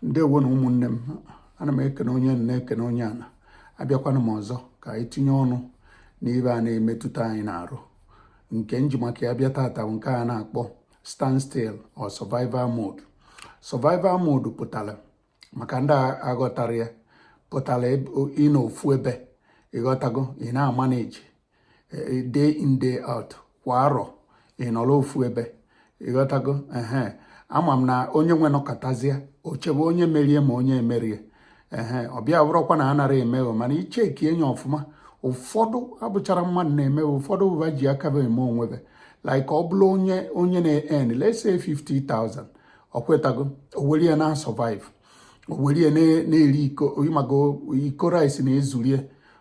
ndewo nụ ụmụnne m ana m ekene onye na-ekene onye ana abịakwana m ọzọ ka anyị tinye ọnụ n'ibe a na-emetụta anyị n'arụ nke m ji maka ya bịa tata nke a na-akpọ standstill or survival mode survival mode pụtara maka ndị aghọtarọ ya pụtara ịnọ ofu ebe ịghọtago ị na-amanage eh, day in day out kwa arọ ị nọrọ ofu ebe ịghọtago ehe ama m na onye nwe nọkatazie o chebe onye merie ma onye emerie ehe ọ bịa bụrụkwa na anarọ emeghe mana i checkie enye ọfụma ụfọdụ abụcharọ mmadụ na-eme ụfọdụ ọ ba ji aka be eme onwe be like ọ bụrụ onye onye na-earn let's say 50,000 ọ kwetago o were ya na-asurvive o were ya na-eri iko ịmago iko rice na-ezurie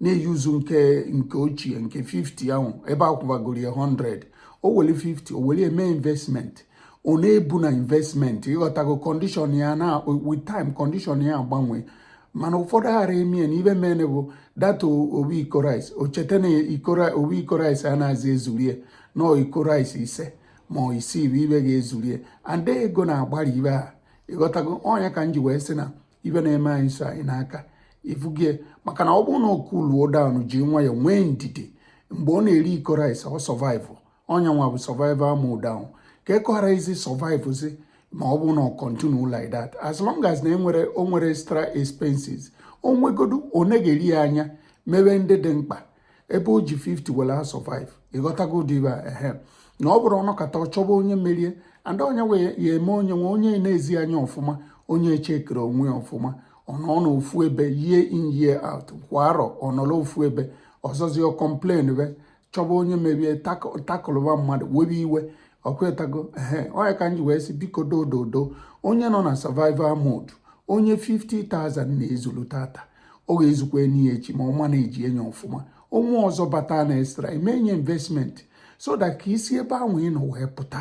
na-euse nke nke ochie nke 50 ahụ ebe akwụbagoro ya 100 o were 50 o were eme investment ọ na-ebu na investment ịghọtago condition ya na with time condition ya agbanwe mana ụfọdụ ghara emie na ibe mene bụ that ofu iko rice o cheta na ofu iko rice anazị ezurie na iko rice ise ma ọ isii bụ ibe ga-ezurie and ego na-agbara ibe ha ịghọtago ọ nya ka m ji wee sị na ibe na-eme anyị si anyị n'aka ifugie maka na ọ bụrụ na o cooluo down ji nwayọ nwee ndidi mgbe ọ na-eri iko rice ọ survive ọ nya nwa bụ survival mode ahụ ka ekọghara isi survive si ma ọ bụ na ọ continue like that as long as na enwerọ o nwerọ extra expenses o nwegodu ọ na-eri ya anya mewe ndị dị mkpa ebe o ji 50 were asurvive ịghọtago ụdị ibe a ehe na ọ bụrụ ọ nọkata ọ chọba onye merie and onye wee ya eme onye nwe onye na-ezi anya ọfụma onye echeckirọ onwe ya ọfụma ọ nọ n'ofu ebe year in year out kwa arọ ọ nọrọ ofu ebe ọzọzi ọ complainbe chọba onye merie takụlụba mmadụ webe iwe ọkwetago ehe ọ nya ka m ji wee sị biko dododo onye nọ na survival mode onye 50,000 na-ezulu tata ọ ga-ezukwa enyi ya echi ma ọ manage enye ọfụma o nwee ọzọ bata na extra ime enye investment so that ka i si ebe ahụ ị nọ wee pụta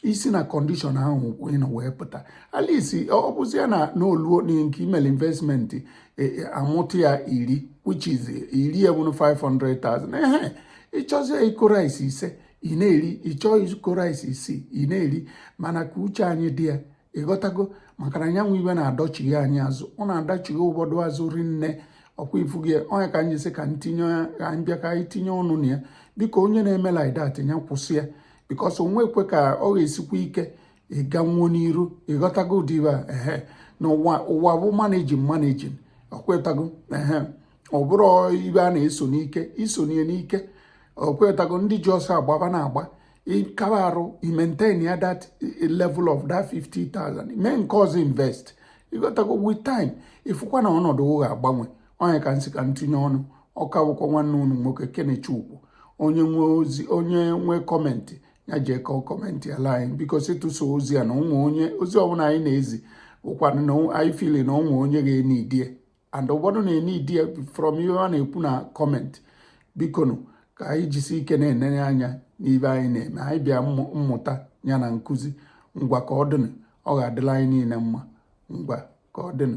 i si na condition ahụ ị nọ wee pụta at least ọ bụzi ya na o luo nke i melu investment e, e, amụtụ ya iri which is iri ebunu 500,000 ehe ị chọzie iko rice ise ị na-eri ị chọọ iko rice isii ị na-eri mana ka uche anyị dị ya ịghọtago maka na ọ nya wụ ibe na-adọchighi anyị azụ ọ na-adọchighi ụfọdụ azụ rinne ọkwa ifugie ọ nya ka anyị sị ka ntinye ya ka anyị bịa ka anyị tinye ọnụ na ya biko onye na-eme like that ya kwụsị ya because o nwekwe ka ọ ga-esikwa ike ịganwu n'iru ịghọtago ụdị ibe a ehe na ụwa ụwa bụ managing managing ọkwetago ehe ọ bụrụ ibe a na-eso n'ike i soo n'ike ọkwetago ndị ji ọsọ agbaba na-agba ị kaba arụ ị maintain ya that eh, level of that 50,000 mee nke ọzọ invest ị ghọtago with time ị fụkwa na ọnọdụ ga-agbanwe ọ nya ka m sị ka m tinye ọnụ ọ ka bụkwa nwanne unu nwoke Kenechukwu onye nwe ozi onye nwe comment ya jee ka ọ comment ala anyị because ịtụso ozi a na o nwe onye ozi ọbụla anyị na-ezi bụkwanụ na anyị feel na o nwe onye ga-enwe idea and ụfọdụ na-enwe idea from ihe a na-ekwu na comment bikonu ka anyị jisi ike na-enene anya n'ihe anyị na-eme anyị bịa mmụta ya na nkụzi ngwa ka ọ dịnụ ọ ga-adịla anyị niile mma ngwa ka ọ dịnụ